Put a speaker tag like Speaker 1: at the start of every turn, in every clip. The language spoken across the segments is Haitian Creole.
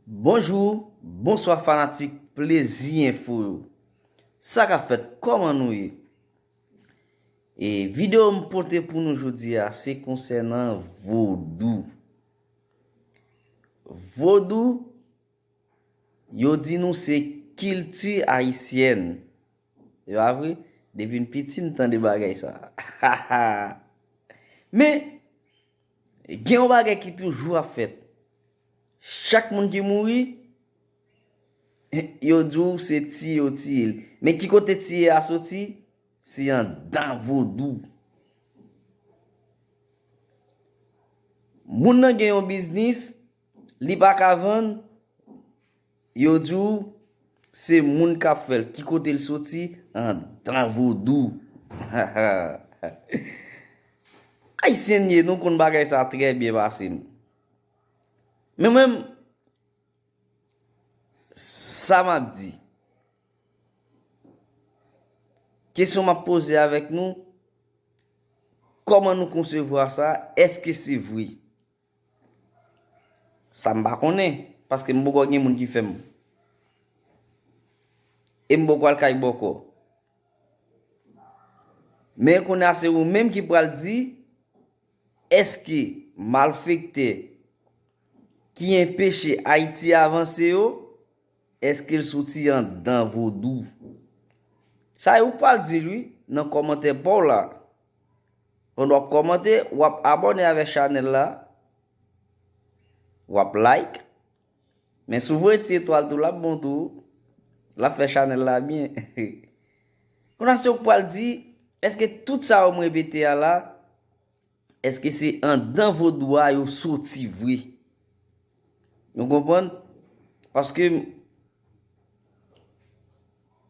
Speaker 1: Bonjour, bonswa fanatik plezi enfo yo. Sa kap fèt kòman nou ye? E video m pote pou nou jodi a se konsènan vodou. Vodou yo di nou se kilti ayisyèn. Se pa vre? Depi m piti m tande bagay sa. Men, Gen yon bagay ki toujou ap fèt. Chak moun ki mouri, yo di w se tiye yo tiye l. Men ki kote tiye a soti? Se andan vodou. Moun nan gen yon biznis, li pa ka vann. Yo di w se moun k ap fè l, ki kote l soti, andan vodou. Ayisyen n ye, nou konn bagay sa trè byen pase m. Men mwen menm, sa m ap di, kesyon m ap poze avèk nou, kòman nou konsevwa sa, èske se vre? Sa m pa konnen, paske m poko gen moun ki fè m. E m poko al kay bòkò. Men kounye a se ou menm ki pral di, èske malfektè ki enpeche Ayiti avanse yo, èske l soti anndan vodou? Sa e ou k pral di l wi, nan kòmantè pa w la. Pandan wap kòmante, wap abòne avèk chanèl la, wap like, men si w voye ti etwal tou lap bon tou, lap fè chanèl la byen. Kona se ou k pral di, eske tout sa yo m repete a la, eske se andan vodou a yo soti vre? Nou konprann? Paske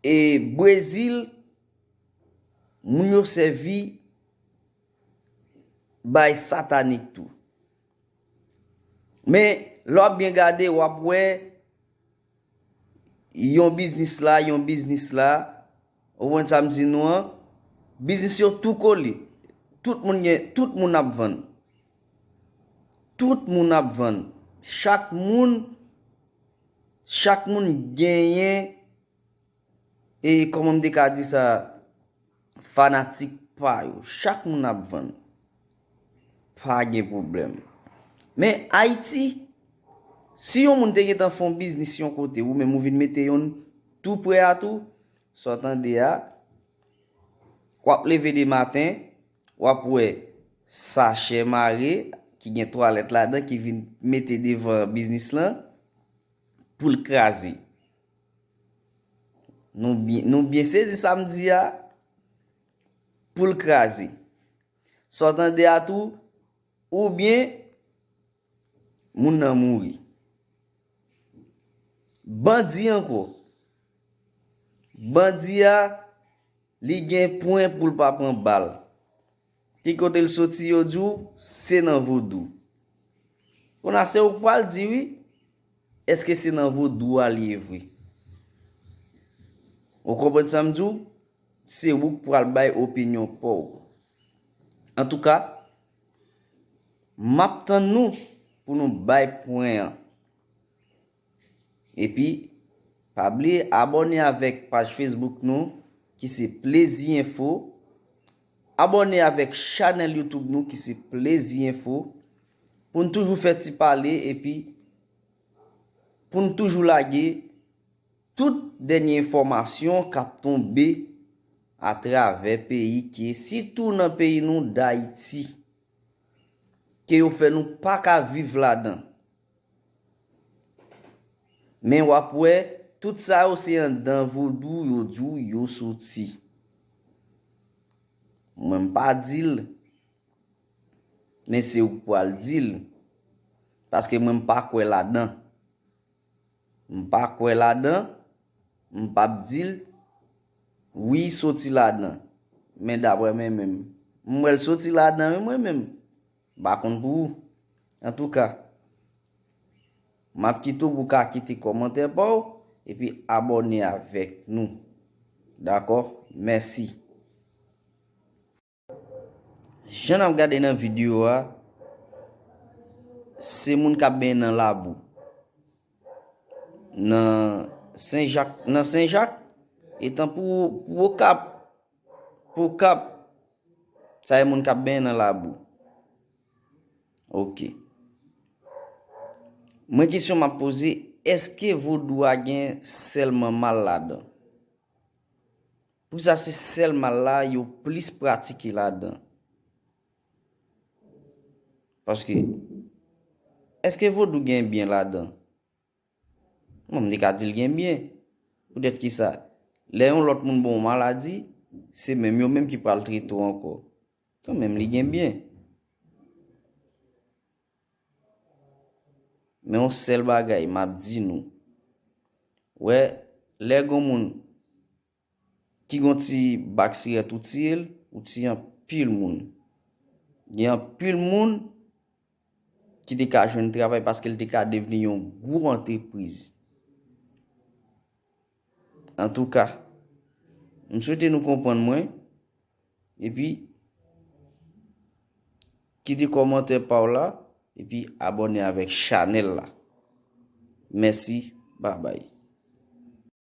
Speaker 1: e Brezil Moun yo sèvi bay satanik tou. Men, lè w ap byen gade, w ap wè yon biznis la, yon biznis la, ou wè sa m di nou an, biznis yo tou kole. Tout moun gen, tout moun ap vann. Tout moun ap vann. Chak moun, chak moun genyen E kòman m te ka di sa fanatik pa yo. Chak moun ap vann. Pa gen pwoblèm. Men Ayiti, si yon moun te gen tan fon biznis yon kote, ou menm ou vin mete yon tou pre a tou, sa w tande a, w ap leve de maten, w ap wè sachè mare ki gen twalèt ladan ki vin mete devan biznis lan pou l kraze. Nou byen sezi sa m di a? Poul kraze. Sa w tande a tou, oubyen moun nan mouri. Bandi ankò. Bandi a, li gen pwen pou l pa pran bal. Ki kote l soti yo di w se nan vodou. Kon a se ou k pral di wi eske se nan vodou a l ye vre. Ou konprann sa m di w? Se ou k pral bay opinyon pa w. Antouka, m ap tann nou pou nou bay pwen an. Epi pa bliye abòne avèk paj Facebook nou ki se Plezi Enfo, abòne avèk chanèl YouTube nou ki se Plezi Enfo pou n toujou fè ti pale epi pou n toujou lage tout dènye enfòmasyon k ap tonbe atravè peyi ke sitou nan peyi nou Dayiti ke yo fè nou pa ka viv ladan. Men wap wè tout sa yo se andan vodou yo di w yo soti. Mwen m pa di l, men se ou k pou al di l. Paske mwen m pa kwè ladan. M pa kwè ladan, m pap di l wi soti ladan. Men daprè men menm. M wè l soti ladan wi mwen menm. M pa konn pou ou. Antouka, m ap kite w pou w ka kite kòmantè pa w epi abòne avèk nou. Dakò? Mèsi. Jan n ap gade nan videyo a, se moun k ap benyen nan labou. Nan Senjak, nan Senjak, etan pou Okap. Pou kap Sa e moun kap benyen nan labou ok Mwen kesyon map poze eske vodou a gen selman mal ladan Poukisa se sel mal la yo plis pratike ladan Paske Eske vodou gen byen ladan. Bon, li ka di l gen byen. Poutèt ki sa? Lè yon lòt moun ba w maladi, se menm yo menm ki pral trete w ankò. Kan menm li gen byen. Men yon sèl bagay m ap di nou. Wè, lè gen yon moun. ki gon ti bak sirèt ou tiyel ou tiye anpil moun gen anpil moun ki te ka jwenn travay paske l te ka devni yon gwo antrepriz antouka m swete nou konprann mwen epi kite kòmantè pa w la epi abòne avèk chanèl la mèsi babay